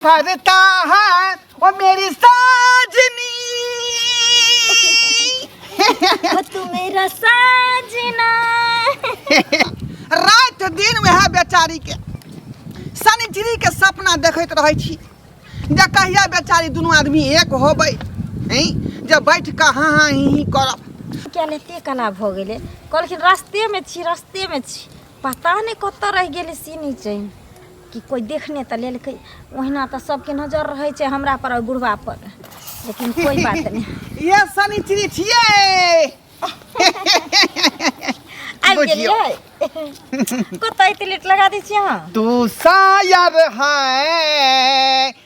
फरता है ओ मेरी साजनी ओ तू मेरा साजना रात दिन वएह बेचारी के शनिचरी के सपना देखैत रहै छी जे कहिया बेचारी दुनू आदमी एक होबै हैं जे बैठ कऽ हाँ हाँ ही ही करब क्या ने ते कना भऽ गेलै कहलखिन रस्तेमे छी रस्तेमे छी पता नहि कतऽ रहि गेलै सीनी चैन कि कोइ देखने तऽ लेलकै ओहिना तऽ सबके नजर रहै छै हमरा पर और बुढ़वा पर लेकिन कोई बात नहीं ये सनिचरी छियै आबि बुझियौ। गेलियै कतऽ एते लेट लगा दै छियै अहाँ तू शायर है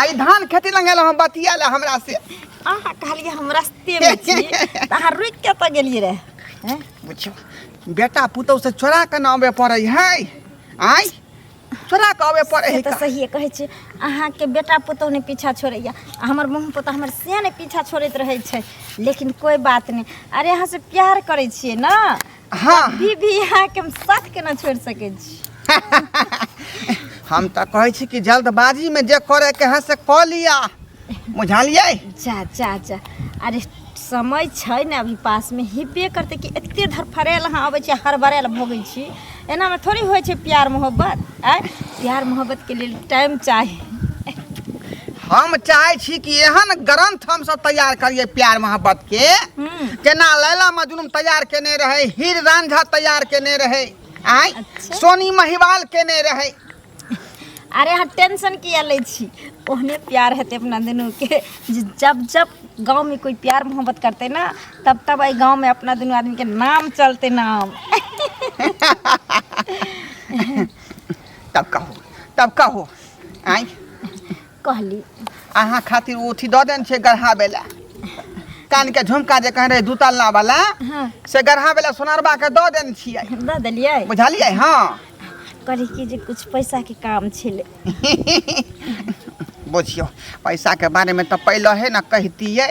आई धान खेती लंगल हम बतिया ला हमरा से अहाँ कहलिए हम रस्ते में छी त अहाँ रुक के त गेलिए रे हैं? बुझियो बेटा पुतौ से चोरा के नामे पड़ै है आई चोरा के आवे पड़ै से है त सहिए कहै छी अहाँ के बेटा पुतौ ने पीछा छोड़ैया आ हमर मुँह पुतौ हमर से ने पीछा छोड़ैत रहै छै लेकिन कोई बात नहीं अरे अहाँ से प्यार करै छिए ना हाँ भी भी यहाँ के हम साथ के ना छोड़ सके छी हम तो कहै छी कि जल्दबाजी में जे करे के है से कऽ लिया बुझलियै जा जा जा अरे समय छै ने अभी पास में हिबे करते कि एते धरफड़ायल अहाँ अबै छी हड़बड़ायल भोगै छी एनामे थोड़ी होइ छै प्यार मोहब्बत आय प्यार मोहब्बत के लिए टाइम चाही हम चाहे छी कि एहन ग्रंथ हम सब तैयार करिए प्यार मोहब्बत के हम्म। जेना लैला मजनू तैयार केने रहे हीर रांझा तैयार केने रहे आय अच्छा। सोनी महिवाल केने रहे अरे अहाँ टेंशन किया लै छी ओहने प्यार हेतै अपना दुनू के जे जब जब गाँव में कोई प्यार मोहब्बत करते ना तब तब एहि गाँवमे अपना दुनू आदमीके नाम चलतै नाम तब कहू तब कहू आँय कहली अहाँ खातिर ओ अथी दऽ देने छै गढ़ाबै लए कानके झुमका जे कहने रहै दू तल्ला वाला हँ से गढ़ाबै लए सोनारबाके दऽ देने छियै दऽ देलियै बुझलियै हँ कहली कि जे किछु पैसाके काम छलै बुझियौ पैसाके बारेमे तऽ पहिलहे ने कहितियै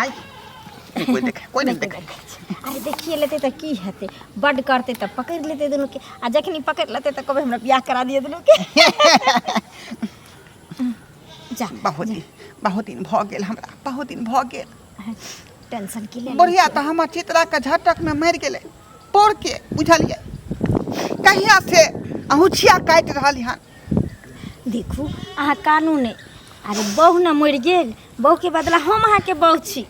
आय कोई देखे कोई नहीं देखे अरे देखिए लेते तो की हेते बड करते तो पकड़ लेते दोनों के आ जखनी पकड़ लेते तो कबे हमरा ब्याह करा दिए दोनों के जा बहुत दिन बहुत दिन भ गेल हमरा बहुत दिन भ गेल टेंशन की ले बढ़िया तो हमर चित्रा के झटक में मर गेले पड़ के बुझलिए कहिया से अहुछिया काटि रहल हन देखू अहाँ कानूने अरे बहू ने मरि गेल बौके बदला हम अहाँके बौ छी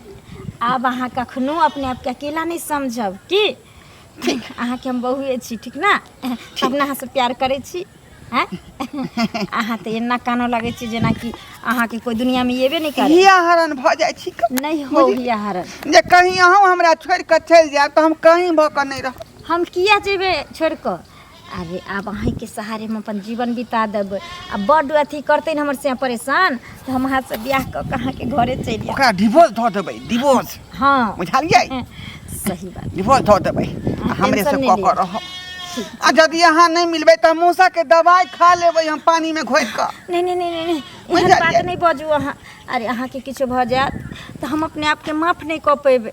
आब अहाँ कखनो अपने आपके अकेला नहि समझब की ठीक अहाँके हम बहुए छी ठीक ने अपना अहाँसँ प्यार करै छी हैं? अहाँ तऽ एना कानो लगै छी जेनाकि अहाँके कोइ दुनियामे एबे नहि करे हिया हरण भऽ जाइ छी नहि हो हिया हरण जे कहीं अहूँ हमरा छोड़ि कऽ चलि जायब तऽ हम कहीं भऽ कऽ नहि रहब हम किया जेबै छोड़ि कऽ अरे आब अहीँके सहारे हम अपन जीवन बिता देबै आ बड्ड अथी करतै ने हमर से परेशान तऽ हम अहाँसँ बियाह कऽ कऽ अहाँके घरे चलि जायब ओकरा डिवोर्स धऽ देबै डिवोर्स हँ बुझलियै सही बात डिवोर्स धऽ देबै आ हमरे टेंशन सब नहि कऽ कऽ लिअ। रहब आ यदि अहाँ नहि मिलबै तऽ हम मूसाके दवाइ खा लेबै हम पानिमे घोरि कऽ नहि नहि नहि नहि, नहि बुझि एहन बात गेलियै। नहि बाजू अहाँ अरे अहाँके किछो भऽ जायत तऽ हम अपने आपके माफ नहि कऽ पेबै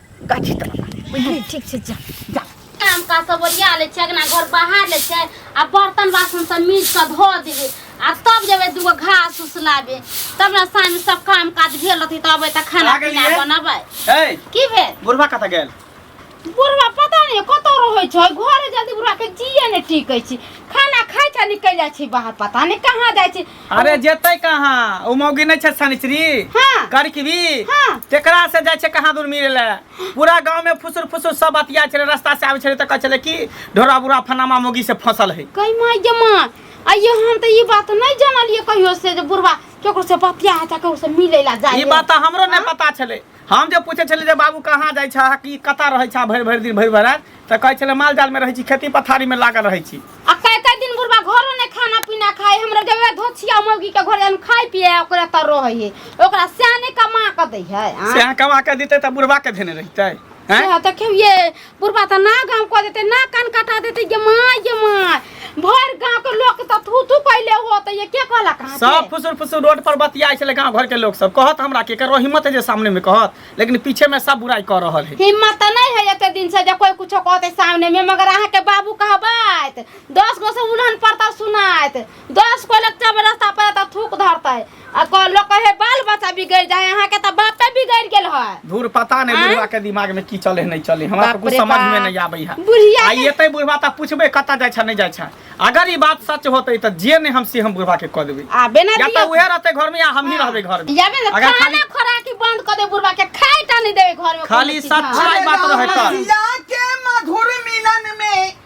गाछी तर बुझली ठीक छै जा जा काम का सब ओरिया ले छै अगना घर बहार ले छै आ बर्तन बासन सब मीज के धो देबे आ तब जेबे दूगो घास उस लाबे तब ना साँझ सब काम काज भेल रहती तब अबे त खाना आ गेलियै? पीना बनबे ए की भेल बुढ़वा कतऽ गेल बुढ़वा पता नहीं कतौ रहै छै घरे जल्दी बुढ़वा के जिए ने टिकै छै खाना खाइ छै निकल जाइ छै बाहर पता नहीं कहाँ जाइ छै अरे जेतै कहाँ ओ मौगी नहि छै शनिचरी हाँ। करकवी हाँ। तेकरा से जाइ छै कहाँ दूर मिले ले पूरा गांव में फुसुर फुसुर सब बतिया छले रास्ता से आबै छले तऽ कहै छले कि ढोरा बुरा फनामा मौगी से फंसल है कहि माय गे माय आइयो हम तऽ ई बात नहि जानलियै कहियो से जे बुढ़वा केकरो से बतिया है तऽ केकरो से मिलै ला ई जाइए बात तऽ हमरो नहि पता छले हम जे पूछै छलियै जे बाबू कहाँ जाइ छह कि कतऽ रहै छह भरि भरि दिन भरि भरि राति तऽ कहै छलै माल जालमे रहै छी खेती पथारीमे लागल रहै छी आ कई कई दिन बुढ़वा घरो ने खाना पीना खाए हमरा जब वह धोछिया मौगी के घर जान खाए पिए आ ओकरा तर रहे है ओकरा स्याने कमा के दे है से अहाँ कमा कऽ दितै तऽ बुढ़बाके धेने रहितै हैं? से है तो क्यों ये बुढ़बा तऽ ना गाँव कऽ देतै ना कान कटा देतै गे माय गे माय भर गाँव के लोग तऽ थू थू कैले हो तऽ ये के कहला कहाँ सब फुसुर फुसुर रोड पर बतियाइ छलै गाँव घर के लोग सब कहत हमरा के करो हिम्मत है जे सामने में कहत लेकिन पीछे में सब बुराई कर रहल है हिम्मत तऽ नहीं है एते दिन से जे कोई कुछो कहते सामने में मगर अहाँ के बाबू कहबैत दस गो से उन्हन पड़ता सुनाइत दस कोई लग जब रास्ता पर एता थूक धरतै आ को लोग कहे बाल बच्चा बिगड़ जाए यहाँ के तो बापे बिगड़ गेल है धूर पता नहीं आँय? बुढ़वा के दिमाग में की चले नहीं चले हमरा बाप तो कुछ रे समझ में बाप। नहीं आबे है बुढ़िया आ के- येते बुढ़वा ता पूछबे कता जाय छ नहीं जाय छ अगर ई बात सच होते त जे ने हम से हम बुढ़वा के कह देबे आबे ना या दिया त उहे रहते घर में या हम ही रहबे घर में याबे ना अगर खाना खाली खोराकी बंद कर दे बुढ़वा के खाए टा नहीं देवे घर में खाली कोनो चीज, हाँ। सच्चाई बात रहे त जिला के मधुर मिलन में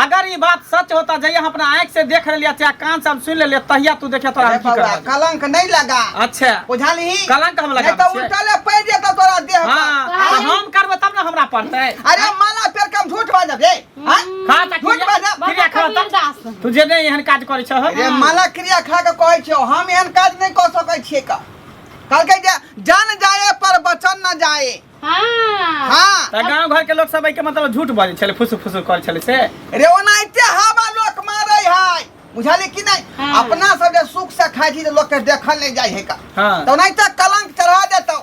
अगर ई बात सच होता जहिया हम अपना आंख से देख रहलिया चाहे कान से हम सुन लेलिया तहिया तू देखिया तोरा अरे हम की बबुआ, करब कलंक नहीं लगा अच्छा बुझाली कलंक हम लगा नहीं तो छियै। उल्टले पड़ जेता तोरा देह पर। हाँ तो हाँ? हम करबै तब ने हमरा पड़तै अरे माला पेड़ कम झूठ बाजब रे हाँ? खा ता झूठ क्रिया बाजब क्रिया खा ता दास तू जे नहीं एहन काज करै छह अरे माला क्रिया खा के कहै छियो हम एहन काज नहीं कऽ सकै छियै का कहलकै जे जान जाए पर वचन न जाए हाँ हाँ त गांव घर के लोग सब एके मतलब झूठ बाजै छले फुसु फुसु कर छले से रे ओनाहिते हवा लोक मारै है बुझाली कि नहीं हाँ। अपना सब जे सुख से खाइ छी तऽ लोक के देखल नहीं जाइ है का हां तऽ ओनाहिते कलंक चढ़ा देतौ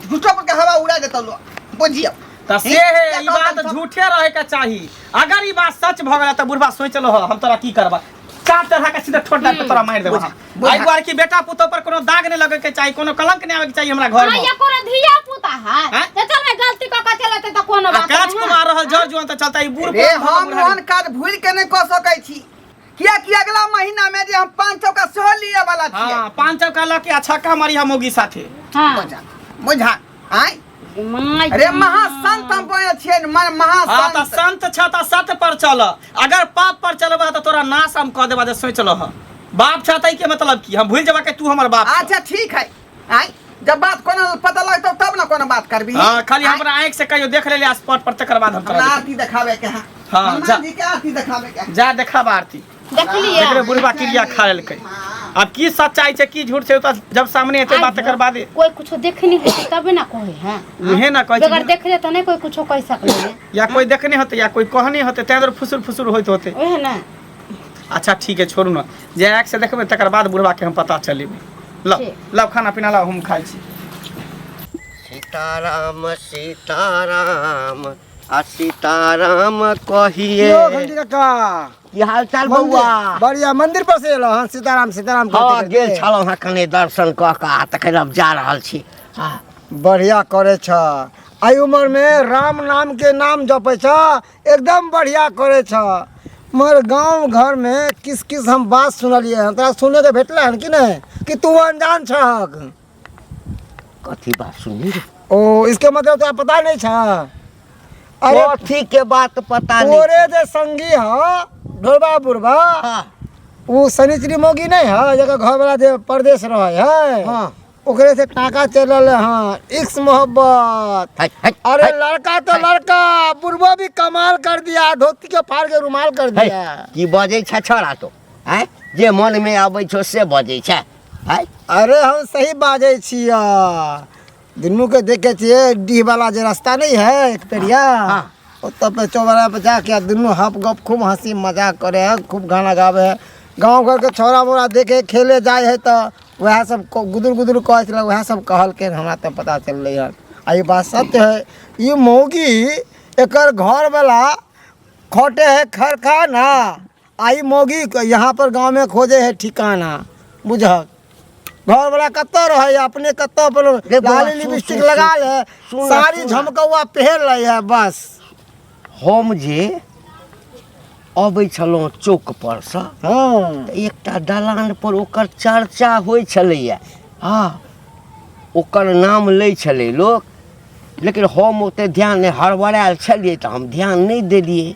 झूठो पर के हवा उड़ा देतौ लोक बुझियो त से है ई बात झूठे रहे के चाही अगर ई बात सच भ गेल त बुढ़वा सोचलो हम तोरा की करबा काट चढ़ा के सीधा ठोट डाल के तोरा मार देबो हम आई बार की बेटा पुतो पर कोनो दाग नहीं लगे के चाहिए कोनो कलंक नहीं आवे के चाहिए हमरा घर में ये कोनो धिया पुता है हैं? ते चल मैं गलती क के चलते त कोनो बात काच नहीं कुमार रहल जर जुआन त चलता ई बूढ़ रे पर हम बुढ़ारी। मन काज भूल के नहीं कह सकै छी किया कि अगला महीना में जे हम पाँच सौ का सेहो लिए वाला छियै हाँ पाँच सौ का लके अच्छा का हमारी हम होगी साथे हां बुझा आय माय अरे महासंत हम कहै छियै ने, मन हाँ तऽ महासंत संत छ तऽ सत पर चल अगर पाप पर चलबह तऽ तोरा नाश हम कऽ देबह जे सोच लह बाप छ तै के मतलब की हम भूल जेबह कि तू हमर बाप छह। अच्छा ठीक है आय जब बात कोनो पता लगतौ तब ना कोनो बात करबी हाँ खाली आँय, हमरा आँख से कहियो देख लेले स्पॉट पर तकर बाद हम हमरा तोरा आरती देखाबे के है हाँ, जा। हनुमान जी के आरती देखाबे के है जा देखा आरती देखलियै देखले बुढ़बा क्रिया खा लेलकै अब की सच्चाई छै की झूठ छै ओ तऽ जब सामने एतै बात तकर बादे कोई कुछो देखनी है तबे ना कोई है उहे ना कहै बगैर छै देखले तो नहीं कोई कुछो कह सकले है या कोई देखने होतै या कोई कहने होतै तैं दुआरे फुसुर फुसुर होइत होतै ओहे ना अच्छा ठीक है छोड़ू ने जे आँखि से देखबै तकर बाद बुढ़बा के हम पता चलेबै लब ठीक। लब खाना पीना लब हम खाइ छी सीताराम सीताराम आ सीताराम कहिए यो घंटी काका की हाल चाल बौआ मंदिर- बढ़िया मंदिर पर से एलो हन सीताराम सीताराम हाँ करते गेल करते। छलहुँ हँ कने दर्शन कऽ कऽ आ तखन हम जा रहल छी हाँ बढ़िया करे छ एहि उम्र में राम नाम के नाम जपे छ एकदम बढ़िया करे छ मगर गांव घर में किस किस हम बात सुनलिए हन तोरा सुने के भेटले हन कि नहीं कि तू अनजान छहक कथी बात सुनी रे ओ इसके मतलब तोरा पता नहीं छा अरे कथी के बात पता नहीं तोरे जे संगी ह ढोलबा बुढ़बा हाँ उ शनिचरी मोगी नहीं है जकर घर वाला जे परदेश रहे है हाँ ओकरे से टाका चल रहे हाँ इक्स मोहब्बत हट हट अरे हट, लड़का तो लड़का बुढ़बा भी कमाल कर दिया धोती के फाड़ के रुमाल कर हट, दिया की बजै छे छोड़ा तो आँय जे मन में आबै छौ से बजै छे आय अरे हम सही बाजै छियै दुनू के देखे छियै डीह वाला जे रास्ता नहीं है एक पेरिया हाँ। ओतऽ पे चौबरा पे जाके आ दुनू हप गप खूब हंसी मजाक करे है खूब गाना गावे है गांव घर के छोरा मोरा देखे खेले जाए है तो वह सब को- गुदुर गुदुर कहे छला वह सब कहल के हमरा तो पता चलले है आ ई बात सत्य है ई मौगी एकर घर वाला खोटे है खरखाना आइ मौगी के यहाँ पर गाँव में खोजे है ठिकाना बुझक घर वाला कत्ता रहे अपने कत्ता पर रे बौआ, लाली सुन, लिपस्टिक सुन, लगा सुन, ले सुन, साड़ी सुन। झमकौआ पहन ले है बस हम जे अबै छलहुँ चौक पर से हाँ तऽ एकटा दलान पर ओकर चर्चा होइ छलैए हँ ओकर नाम लै छलै लोक लेकिन हम ओतेक ध्यान नहि हड़बड़ायल छलियै तऽ हम ध्यान नहि देलियै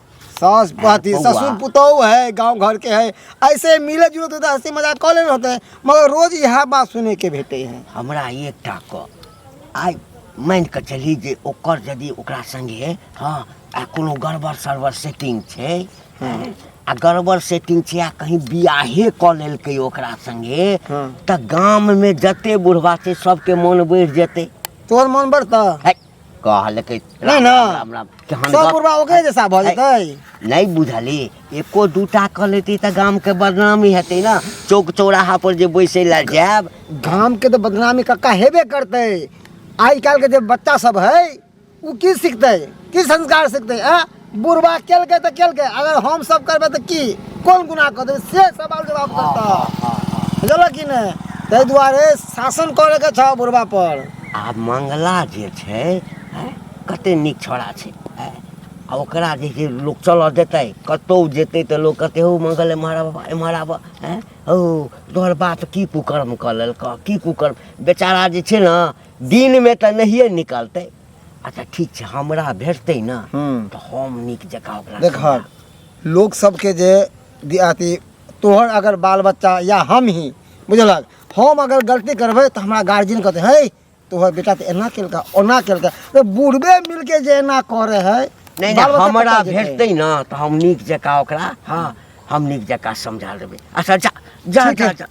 सास पति बउआ। ससुर पुतोह है गांव घर के है ऐसे मिले जुले तो हंसी मजाक कऽ लेने होते हैं मगर रोज यह बात सुने के भेटे हैं हमरा एकटा क आइ मानि कऽ चली जे ओकर यदि ओकरा संगे हँ आ कोनो गड़बड़ सड़बड़ सेटिंग छै हँ, आ गड़बड़ सेटिंग छै आ कहीं बियाहे कऽ लेलकै ओकरा संगे हँ। तऽ गाममे जते बुढ़वा छै सबके मोन बढ़ि जेतै तोहर मन बढ़ता है कहलकै नहि ने। राम राम केहन सब गप बुढ़वा ओकरे जैसा भऽ जेतै नहि बुझली एको दूटा कऽ लेती तऽ गामके बदनामी हेतै ने चौक चौराहा पर जे बैसै लए जायब गाम के तो बदनामी कक्का हेबे करते आज कल के जो बच्चा सब है वो की सीखते की संस्कार सीखते आ बुढ़वा केलकै तऽ केलकै अगर हम सब करबै तऽ की कोन गुना कऽ देबै से सवाल जवाब हाँ, करता हाँ, हाँ, हाँ। बुझल कि ने ताहि दुआरे शासन करैके छ बुढ़वा पर आ मंगला जे छै हैं, कते नीक छोड़ा छै हैं। आ ओकरा जे छै लोक चलऽ देतै कतहु जेतै तऽ लोक कहतै हौ मंगल एम्हर आबऽ एम्हर आबऽ हैं हौ तोहर बात की कुकर्म कऽ लेलकऽ की कुकर्म बेचारा जे छै ने दिनमे तऽ नहिए निकलतै अच्छा ठीक छै हमरा भेटतै ने हूँ तऽ हम नीक जकाँ ओकरा देखक लोक सबके जे दि- अथी तोहर अगर बाल बच्चा या हम ही बुझलक हम अगर गलती करबै तऽ हमरा गार्जियन कहते है तोहर बेटा तऽ एना केलका ओना केलका तऽ बूढ़बे मिलके जे एना करे है नहि बाल नहि बच्चा हमरा कतऽ जेतै? भेटतै ने तऽ हम नीक जकाँ ओकरा हँ हम नीक जकाँ समझा देबै अच्छा जा जा ठीक जा है जा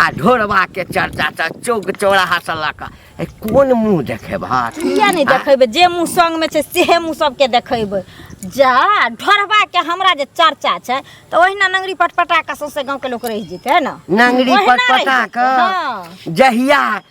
आ ढोरबा के चर्चा त चौक चौराहा से लऽ कऽ ए, कोन मुंह देखेबह किया नहि देखेबै जे मुँह संगमे छै सेहे मुँह सबके देखेबै जा ढोरबाके हमरा जे चर्चा छै तऽ ओहिना नंगरी पटपटा कऽ सौंसे गाँवके लोक रहि जेतै है ने नंगरी ओहिना रहि पटपटा जेतै, हँ। कऽ जहिया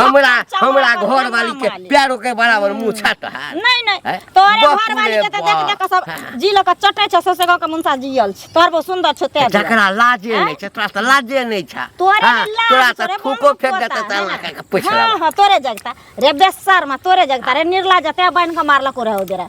हमरा चमड़ा हमरा पर घर वाली के मालिक। प्यारो के बराबर मुंह छाट है नहीं नहीं हैं? तोरे बाप घर वाली रे के त देख बाप। देख के सब जी लोग के चटे छ ससे गांव के मुंसा जियल छ तोर बहुत सुंदर छ ते जकरा लाजे हैं? नहीं छै तोरा से लाजे नहीं छै तोरे हाँ, में लाज तोरा से तोरे थूको बम्बू फेंक देता पोता, त ना। लगा के पूछ हां लेबा हां तोरे जगता रे बेसर में तोरे जगता रे निर्ला जते बन के मारला को रहो देरा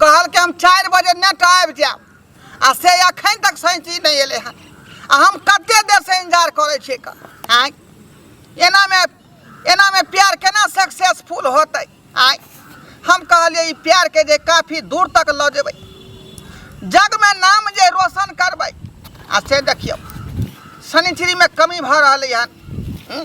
कहलकै हम चारि बजे नेट आबि जायब आ से अखन तक सैंची नहि एलै हन आ हम कते देर से इंतजार करै छियै क आँय एनामे एनामे प्यार केना सक्सेसफुल होतै आँय हम कहलियै ई प्यारके जे काफी दूर तक लऽ जेबै जगमे नाम जे रोशन करबै आ से देखियौ शनिचरीमे कमी भऽ रहलै हन हूँ?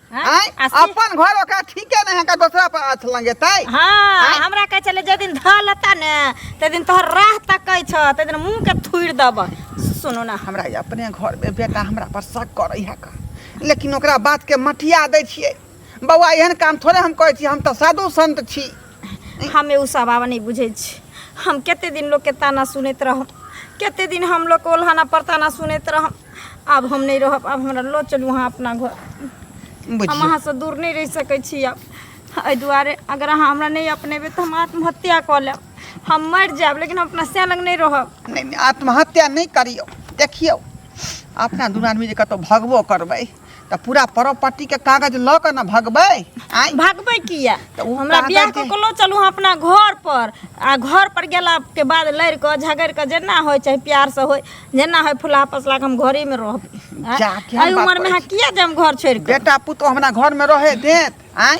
हाँ? आय आ से- अपन घर ओकरा ठीके नहीं है का दूसरा पर हाथ लंगेतै हाँ आँय? हमरा कहे चले जे दिन धऽ लेता ने ते दिन तोहर राह तकै छ ते दिन मुंह के थुड़ दब सुनू ना हमरा ई अपने घर में बेटा हमरा पर शक करै है का लेकिन ओकरा बात के मटिया दै छियै बौआ एहन काम थोड़े हम कहै छी हम तऽ साधु संत छी हमे उ सब आब नहीं बुझे छी हम कते दिन लोग के ताना सुनैत रहब कते दिन हम लोग के ओल्हाना पर ताना सुनैत रहब आब हम नहि रहब आब हमरा लऽ चलू अहाँ अपना घर हम बुझियौ अहाँसँ दूर नहि रहि सकै छी आब एहि दुआरे अगर अहाँ हमरा नहि अपनेबै तऽ हम आत्महत्या कऽ लेब हम मरि जायब लेकिन हम अपना सैन लग नहि रहब नहि नहि आत्महत्या नहि करियौ देखियौ अपना दुनू आदमी जे कतहु भगबो करबै तऽ पूरा प्रॉपर्टी के कागज लऽ कऽ ने भगबै आइ भगबै किया तऽ ओ हमरा कागज बियाह के- कऽ के लो चलू अपना घर पर आ घर पर गेला के बाद लड़ कऽ झगड़ कऽ जेना होय चाहे प्यार से होय जेना होय फुला फसला के हम घरे में रहब आँय? जा, केहन एहि बात उम्र में करै अहाँ किया जाम घर छोड़ के बेटा पुतो हमरा घर में रहे देत आइ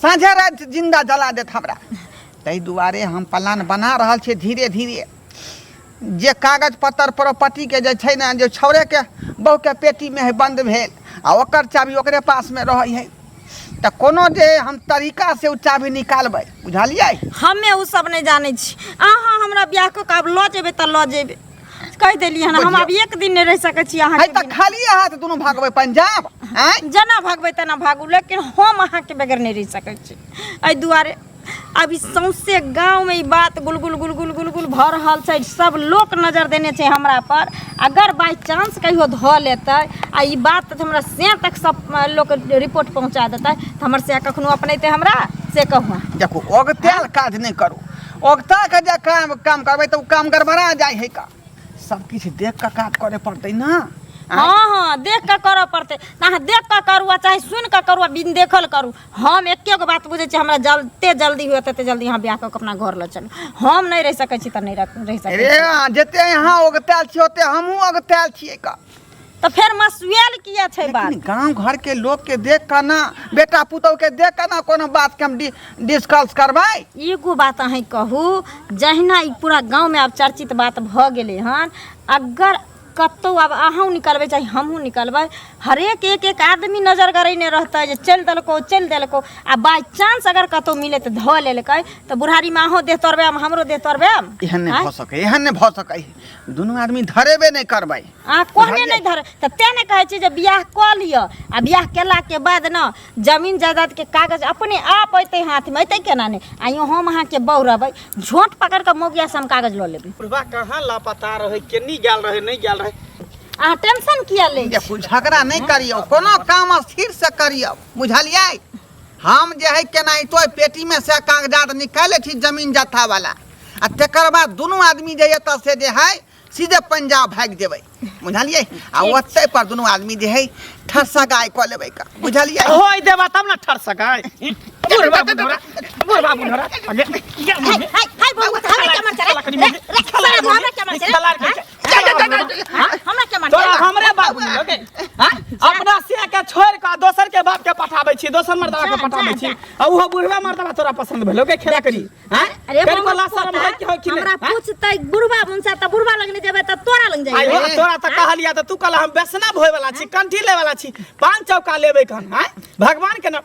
साँझे रात जिंदा जला देत हमरा ताहि दुआरे हम प्लान बना रहल छियै धीरे धीरे जे कागज पत्तर प्रॉपर्टीके जे छै ने जे छौड़ेके बहुके पेटीमे है बन्द भेल आ ओकर चाभी ओकरे पासमे रहै है तऽ कोनो जे हम तरीका से ओ चाभी निकालबै बुझलियै हमे ओ सब नहि जानै छी अहाँ हमरा बियाह कऽ के आब लऽ जेबै तऽ लऽ जेबै कहि देलियै हन हम आब एक दिन नहि रहि सकै छी अहाँ तऽ खाली हाथ दुनू भागबै पंजाब जेना भागबै तेना भागू लेकिन हम अहाँके बगैर नहि रहि सकै छी एहि दुआरे अब ई सौंसे गाँवमे ई बात गुलगुल गुलगुल गुलगुल भऽ रहल छै सब लोक नजर देने छै हमरा पर अगर बाय चांस कहियो धऽ लेतै आ ई बात तऽ हमरा से तक सब अ, लोक रिपोर्ट पहुँचा देतै तऽ हमर से कखनो अपनेतै हमरा से कहू देखू ओगताल काज नहि करू ओगता के जे काम काम करबै तऽ ओ काम गड़बड़ा जाइ है का सब किछु देख कऽ काज करे पड़तै ना आँय? हाँ हाँ देख के करऽ पड़ते अहाँ देख के करू आ चाहे सुन के करू आ बिन देखल करू हम एके गो बात बुझे छी हमरा जल्दे जल्दी हुए तते जल्दी अहाँ ब्याह कऽ के अपना घर लऽ चलू हम नहीं रह सकै छी तऽ नहीं रह रह सकै छी। रे अहाँ जते यहाँ ओगतायल छियै ओते हमहूँ ओगतायल छियै का तऽ फेर मसुएल किया छै बात लेकिन गांव घर के लोग के देख कर ना बेटा पुतौ के देख कर ना कोनो बात के हम डि, डिस्कस करबै एगो बात अहीं कहू जहिना ई पूरा गांव में आब चर्चित बात भऽ गेलै हन अगर कतौ आब अहूँ निकलबै चाहे हमहूँ निकलबै हरेक एक एक आदमी नजर करैने रहतै जे चलि देलकौ चलि देलकौ आ बाय चांस अगर कतौ मिले तऽ धऽ लेलकै तऽ बुढ़ारीमे अहूँ देह तोड़बै हम हमरो देह तोड़बै एहन नहि आँय? भऽ सकै एहन नहि भऽ सकै दुनू आदमी धरेबे नहि करबै अहाँ कहने नहि धर तऽ तेँ ने कहै छी जे बियाह कऽ लिअ आ बियाह केलाके बाद ने जमीन जायदादके कागज अपने आप अयतै हाथमे अयतै केना नहि आ यो हम अहाँके बौ रहबै झोंट पकड़ कऽ मौगियासँ हम कागज लऽ लेबै बुढ़बा कहाँ लापता रहै केनी गेल रहै नहि गेल रहै अहाँ टेंशन किया लै छी देखू झगड़ा नहि करियौ कोनो काम स्थिर से करियौ बुझलियै हम जे है केनाहितो एहि पेटीमे से कागजात निकालि लै छी जमीन जत्थावला आ तकर बाद दुनू आदमी जे एतऽ से जे है सीधे पंजाब भागि जेबै बुझलियै आ ओतै पर दुनू आदमी जे है ठरसगाय कऽ लेबै का बुझलियै होय देबा तब ना ठर सकाय बुढ़ बाबू नोरा बुढ़ बाबू नोरा अगे क्या हाय हाय हाय बहुत हमरा चमन चला लकड़ी में रे रे हमरा चमन चला जा, जा, जा, जा, जा। हाँ? हमरा के मारते तोरा बा? हमरे बाप मिलो के हाँ? अपना से के छोड़ के दोसर के बाप के पठाबै छी दोसर मर्दा के जा, पठाबै जा, छी जा। आ ओहो बुढ़वा मर्दा तोरा पसंद भेलो के खेला करी हैं अरे करी हमरा वाला शर्म पूछता, है कि हो कि हमरा नहीं हैं? पूछतै बुढ़वा मुनसा त बुढ़वा लगने जेबै त तोरा लग आइ जाइए हो, तोरा त कहलिया त तू कहला हम वैष्णव होय वाला छी कंठी ले वाला छी पान चौका लेबै कन हैं भगवान के नाम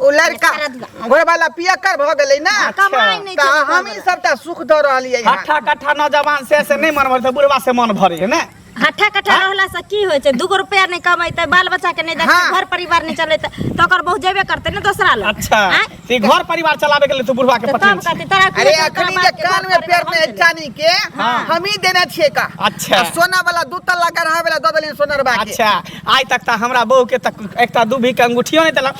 ओ लड़का घर वाला पियकर भऽ गेलै ना कमाई नहीं तऽ छै हमही सबटा सुख दऽ रहलियै हँ हट्ठा कट्ठा नौजवान से से नहि मन भर बुढ़वा से मन भरे है ना हट्ठा कट्ठा रहला से की होइ छै दूगो रुपया नहीं कमेतै बाल बच्चा के नहीं देखतै हाँ। घर परिवार नहीं चलेतै तो ओकर बहु जेबे करतै ना दोसरा लोग अच्छा आँय? से घर परिवार चलावे के लिए तू बुढ़वा के तो पता तब कहते तोरा की अरे होतौ, तोरा अखनी बाप जे के कान घर में पेड़ परिवार में हम चलेबै। चानी के हाँ। हमही देने छियै का अच्छा। आ सोना वाला दू तल्ला गढ़ा वाला दऽ देलियै सोनरबा के अच्छा आइ तक तऽ हमरा बहू के तक एकटा दूभी के अंगूठियो नहि देलक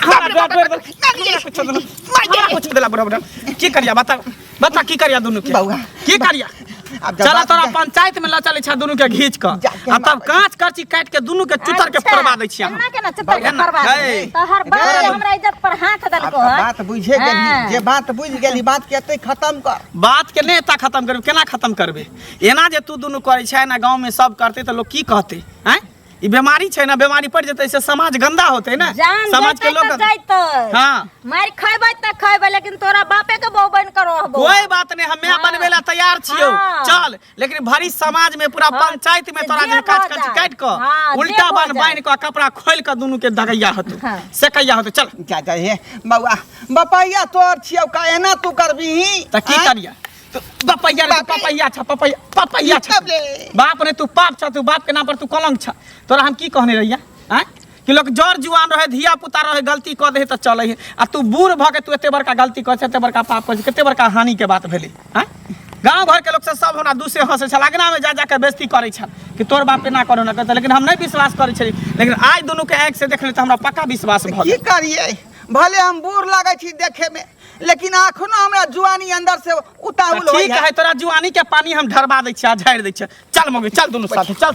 हमरा डर डर हमरा कुछ देलक हमरा कुछ देलक बड़ा बड़ा की करिया बता बता की करिया दुनू के बौआ, की करिया अब जब चला बात- तोरा पंचायत में लचल छा दुनू के घींच क जाके आ तब मार- कांच करची काट के दुनू के चुतर के फोड़वा दै छियै हम केना केना चुतर के फोड़वा दै? तो हर बात रे। हमरा इज्जत पर हाथ आब देलको तऽ है बात बुझे गेली हाँ। जे बात बुझ गेली बात के एतै खत्म कर बात के नेता खत्म करबे केना खत्म करबे एना जे तू दुनू करै छै ना गांव में सब करते तऽ लोग की कहते हैं ई बीमारी छै ना बीमारी पड़ जतै से समाज गंदा होतै ना जान समाज के लोग जैतै हां मार खैबै त खैबै लेकिन तोरा बापे के बहु बन कर रहबो कोई बात नहीं हम्मे हाँ। बनबे ला तैयार छियो हाँ। चल लेकिन भरी समाज में पूरा हाँ। पंचायत में तोरा जे काट काट काट क हाँ, उल्टा बन बाइन क कपड़ा खोल क दुनु के दगैया हतु हाँ। से कैया हतु चल जा जा हे बौआ बपैया तोर छियो का एना तू करबी त की करिया पपैया रे पपैया छ पपैया पपैया छ बाप रे तू पाप छ तू बाप के नाम पर तू कलंक छ तोरा हम की कहने रहिया हैं कि लोग जड़ जुआन रहे धिया पुता रहे गलती कऽ दे तऽ चलै है आ तू बूढ़ भऽ के तू एते बड़का गलती कर एते बड़का पाप कर कते बड़का हानि के बात भेलै हैं गांव घर के लोग से सब हमरा दूसरे हंसे छल अगना में जा जा के बेइज्जती करै छल कि तोर बाप एना करो ना करता लेकिन हम नहीं विश्वास करै छली लेकिन आज दोनों के आँखि से देखले तऽ हमरा पक्का विश्वास भऽ की करिए भले हम बूढ़ लगे छी देखे में लेकिन अखनो हमरा जुआनी अंदर से उताहुल होई ठीक है है तोरा जुआनी के पानी हम ढरबा दै छियै आ झाड़ि दै छियै चल मम्मी चल दुनू साथे चल सब